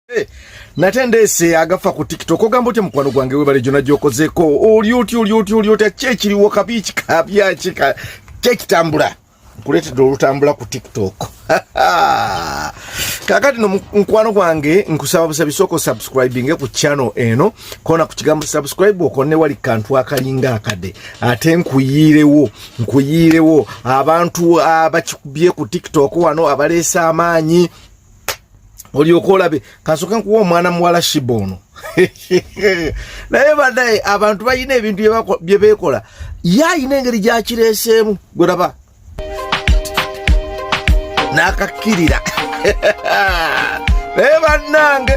Eh, nate ndeese agafa ku tiktok ogamba otya mukwano gwange webale gyona gyokozeko oli oti oli oti oli otya kyekiriwo kabi kikabyaki kyekitambula nkuleetedde olutambula ku tiktok kakati no mukwano gwange nkusaba busabi soko subscribing ku channel eno kona ku kigambo subscribe okonne wali kantu akalinga akade ate nkuyirewo nkuyirewo abantu abakikubye ku tiktok wano abaleesa amaanyi olyoka olabe kasoke nkuwa omwana muwala shiba ono naye badaye abantu balina ebintu byebekola ye alina engeri gyakireeseemu gweraba nakakkirira naye bannange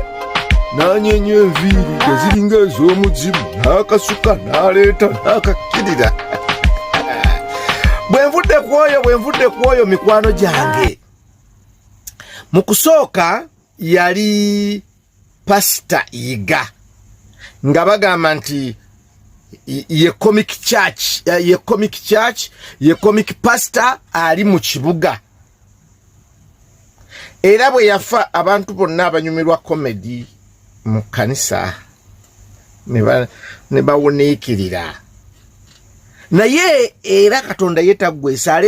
nanyenya enviiri eziringa ez'omuzimu n'akasuka n'aleeta n'akakkirira bwe nvudde ku oyo bwe nvudde ku oyo mikwano gyange mu kusooka yali pasita yiga nga bagamba nti ye comic church eh, ye comic church ye comic pastor ali mu kibuga era bwe yafa abantu bonna abanyumirwa comedy mu kanisa ne bawuniikirira naye era katonda ye taggwesa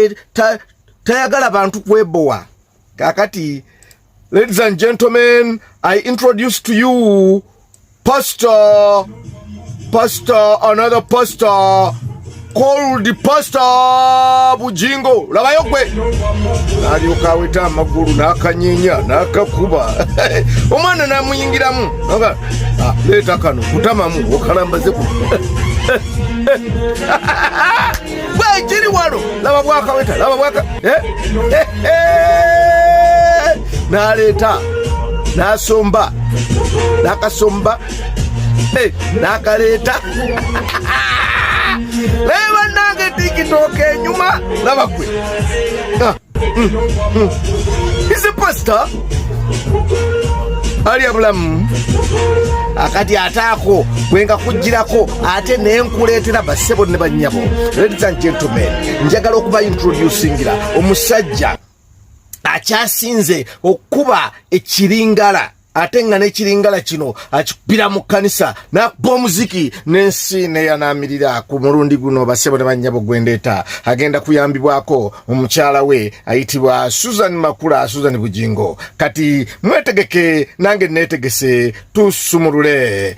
tayagala bantu kwebowa kakati ladies and gentlemen i introduce to you pastor pastor another pastor called pastor bujingo labayo gwe nalyoka aweta amagulu nakanyenya nakakuba omwana namuyingiramu ah, leeta kano kutamamu okalambaze ku bwekiri wano laba bwakaweta laba bwaka eh, eh, eh. naleeta nasomba nakasomba nakaleeta naye banange tikitoka enyuma laba gwe ah. He's a pastor. Alya bulamu akati ate ako bwenga kujjirako ate naye nkuleetera bassebo ne bannyabo ladies and gentlemen njagala okuba introducingira omusajja akyasinze okukuba ekiringala ate nga nekiringala kino akikubira mu kkanisa nakuba omuziki n'ensi neyanamirira ku mulundi guno basebo ne bannyabo gwendeeta agenda kuyambibwako omukyala we ayitibwa susan makula susan bugingo kati mwetegeke nange netegese tusumulule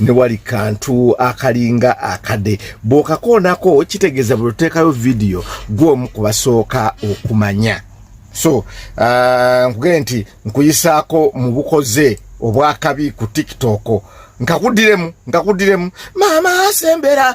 ne wali kantu akalinga akade bwokakoonako kitegeeza bwe tuteekayo vidiyo gwomu ku basooka okumanya so uh, nkugee nti nkuyisaako mu bukoze obwakabi ku tiktok nkakudiremu nkakudiremu maama asembera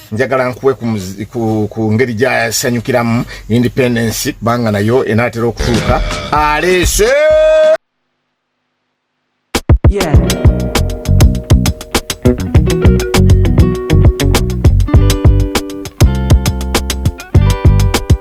njagala nkuwe ku, ku, ku ngeri gyayasanyukiramu independence kubanga nayo enaatera okutuuka aleese yeah.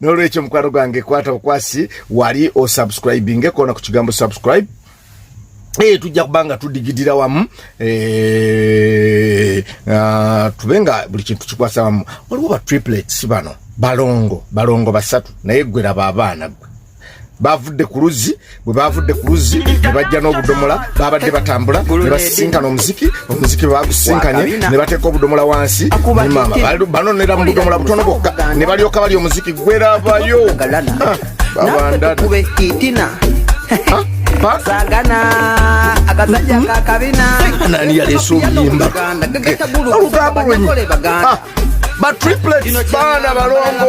nolwekyo mukwano gwange kwata bukwasi wali osubscribinge kona ku kigambo subscribe Hey, eh, tujja kubanga tudigidira wamu hey, eh, uh, ah, tube nga buli kintu kikwasa wamu waliwo ba triplets bano balongo balongo basatu naye gweraba abaana gwe bavudde ku luzzi bwe baavudde ku luzzi ne bajja n'obudomola baabadde batambula ne basisinkana omuziki omuziki bwe bagusisinkanye ne bateeka obudomola wansi ne maama banonera mu budomola butono bwokka ne balyoka bali omuziki gwerabayo nani yaleesa obuyimba olugambo lwenyi batriplets baana balongo